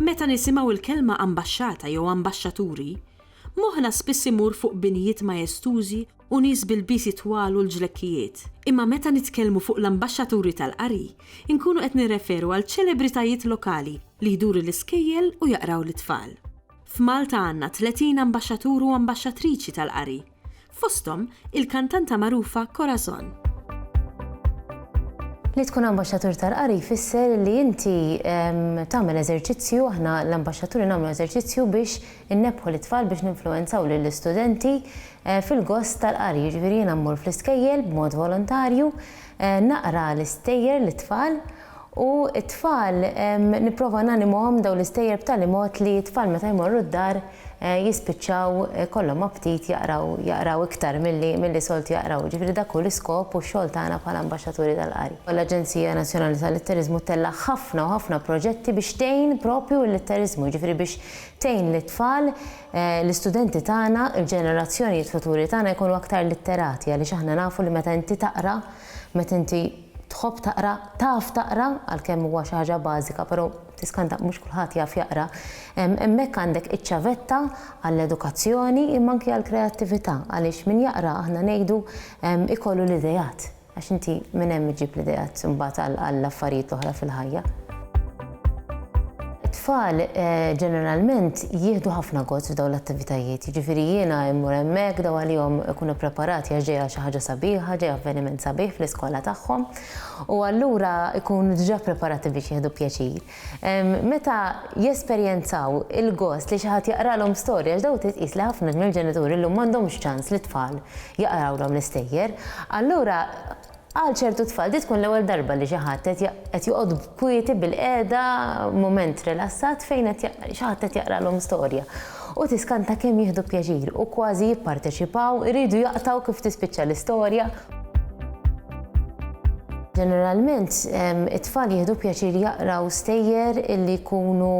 Meta nisimgħu l-kelma ambaxxata jew ambaxxaturi, moħħna spiss imur fuq binjiet majestużi u nies b'ilbiesi twal u l-ġlekkijiet. Imma meta nitkellmu fuq l-ambaxxaturi tal-qari, inkunu qed nirreferu għal ċelebritajiet lokali li jduru l-iskejjel u jaqraw lit-tfal. F'Malta għandna 30 ambaxxatur u ambaxxatriċi tal-qari, fosthom il-kantanta magħrufa Corazon. Li tkun ambaxxatur tal-qari jfisser li inti tagħmel eżerċizzju, aħna l-ambaxxaturi nagħmlu eżerċizzju biex innebbħu lit-tfal biex ninfluwenzaw lill-istudenti eh, fil-gost tal-qari. Jiġifieri jiena mmur fl-iskejjel b'mod volontarju, eh, naqra l-istejjer lit-tfal U t-tfal nipprova nanimuhom dawn l-istejjer b'tali mod li t-tfal meta jmorru d-dar jispiċċaw ikollhom aptit jaqraw jaqraw iktar milli milli soltu jaqraw. Jiġifieri dak hu l-iskop u x-xogħol tagħna bħala ambaxxaturi tal-qari. L-Aġenzija Nazzjonali tal-Litteriżmu ttellaħ ħafna u ħafna proġetti biex tgħin propju l-litteriżmu, jiġifieri biex tgħin lit-tfal, l-istudenti tagħna, il-ġenerazzjonijiet futuri tagħna jkunu aktar litterati għaliex aħna nafu li meta inti taqra, meta inti. Tħobb taqra, taf taqra, għalkemm huwa xi ħaġa bażika, però tiskanta mhux kulħadd jaf jaqra, hemmhekk għandek iċ-ċavetta għall-edukazzjoni imma anki għall-kreattività għaliex min jaqra aħna ngħidu ikollu l-ideat għax inti minn hemm iġġib l-ideat imbagħad għall-affarijiet l-oħra fil-ħajja. It-tfal ġeneralment jieħdu ħafna gost f'dawn l-attivitajiet, jiġifieri jiena immur hemmhekk daw għalihom ikun ippreparati għax ġejja xi ħaġa sabiħa, ġej avveniment sabiħ fl-iskola tagħhom u allura jkunu diġà ppreparati biex jieħdu pjaċir. Meta jesperjenzaw il-gost li xi ħadd jaqralhom storja għax daw titqies li ħafna mill-ġenituri llum m'għandhomx ċans lit-tfal jaqrawlhom l-istejjer, allura Għal ċertu tfal din tkun l-ewwel darba li xi ħadd qed joqgħod kwieti bilqiegħda f'mument rilassat fejn xi ħadd qed jaqralhom storja u tiskanta kemm jieħdu pjaċir u kważi jipparteċipaw, iridu jaqtgħu kif tispiċċa l-istorja. Ġeneralment it-tfal jieħdu pjaċir jaqraw stejjer li jkunu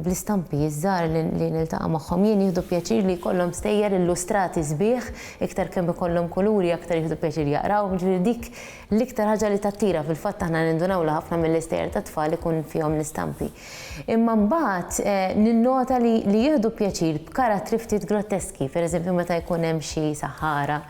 bl-istampi, iż-żgħar li niltaqa' magħhom jien jieħdu pjaċir li jkollhom stejjer illustrati sbieħ Iktar kemm ikollhom kuluri aktar jieħdu pjaċir jaqrawhom, jiġifieri dik l-iktar ħaġa li tattira, fil-fatt aħna nindunaw li ħafna mill-istejjer tat-tfal ikun fihom l-istampi. Imma mbagħad ninnota li li jieħdu pjaċir b'karattri ftit grotteski, pereżempju meta jkun hemm xi saħħara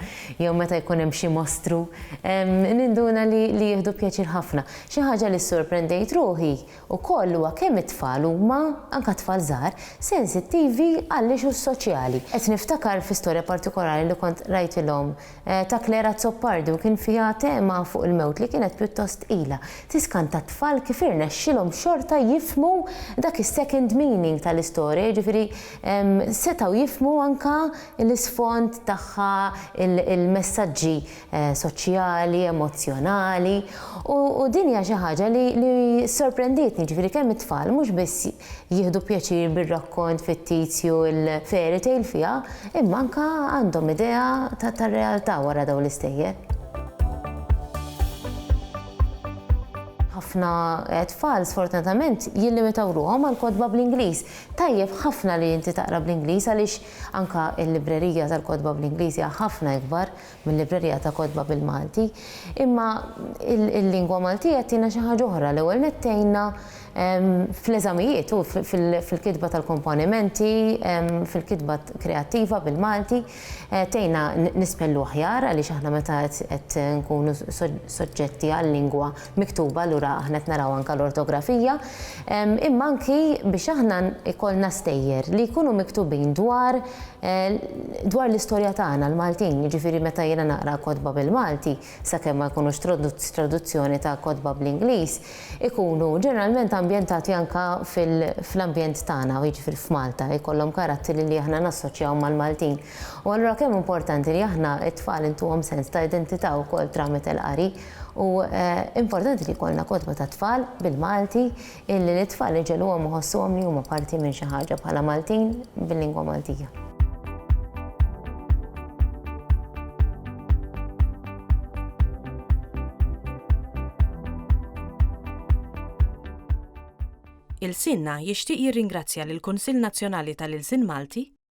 jew meta jkun hemm xi mostru, ninduna li li jieħdu pjaċir ħafna. Xi ħaġa li ssorprendejt ruħi Ukoll huwa kemm it-tfal huma, anke t-tfal żgħar, sensittivi għall-issues soċjali. Qed niftakar fi storja partikolari li kont qrajtilhom ta' Claire Azzopardi u kien fiha tema fuq il-mewt li kienet pjuttost tqila. Tiskanta t-tfal kif irnexxilhom xorta jifhmu dak is-second meaning tal-istorja, jiġifieri setgħu jifhmu anke l-isfond tagħha, il-messaġġi soċjali, emozzjonali u din hija xi ħaġa li sorprendietni, ġifieri kemm it-tfal mhux biss jieħdu pjaċir bir-rakkont fittizju l-fairy tale fiha, imma anke għandhom idea tar-realtà wara dawn l-istejjer. Ħafna tfal sfortunatament jillimitaw ruħhom għall-kotba bl-Ingliż. Tajjeb ħafna li inti taqra bl-Ingliż għaliex anke l-librerija tal-kotba bl-Ingliż hija ħafna ikbar. mill-librerija ta' kotba bil-Malti, imma il-lingwa Maltija ttina xi ħaġa oħra, l-ewwel nett tgħinna fl-eżamijiet u fil-kitba tal-komponimenti, fil-kitba kreattiva bil-Malti, tgħinna nispellu aħjar għaliex aħna meta qed nkunu soġġetti għal-lingwa miktuba, allura aħna qed naraw anke l-ortografija, imma anki biex aħna jkollna stejjer li jkunu miktubin dwar dwar l-istorja tagħna l-Maltin, jiġifieri meta jiena naqra kotba bil-Malti, sakemm ma jkunux traduzzjoni ta' kotba bl-Ingliż, ikunu ġeneralment ambjentati anke fl-ambjent tagħna, jiġifieri f'Malta, jkollhom karatteri li aħna nassoċjaw mal-Maltin. U allura kemm importanti li aħna t-tfal intuhom sens ta' identità wkoll tramite l-qari. U importanti li jkollna kotba tat-tfal bil-Malti illi lit-tfal iġegħluhom iħossuhom li huma parti minn xi ħaġa bħala Maltin bil-lingwa Maltija. Ilsienna jixtieq jirringrazzja lill-Kunsill Nazzjonali tal-Ilsien Malti,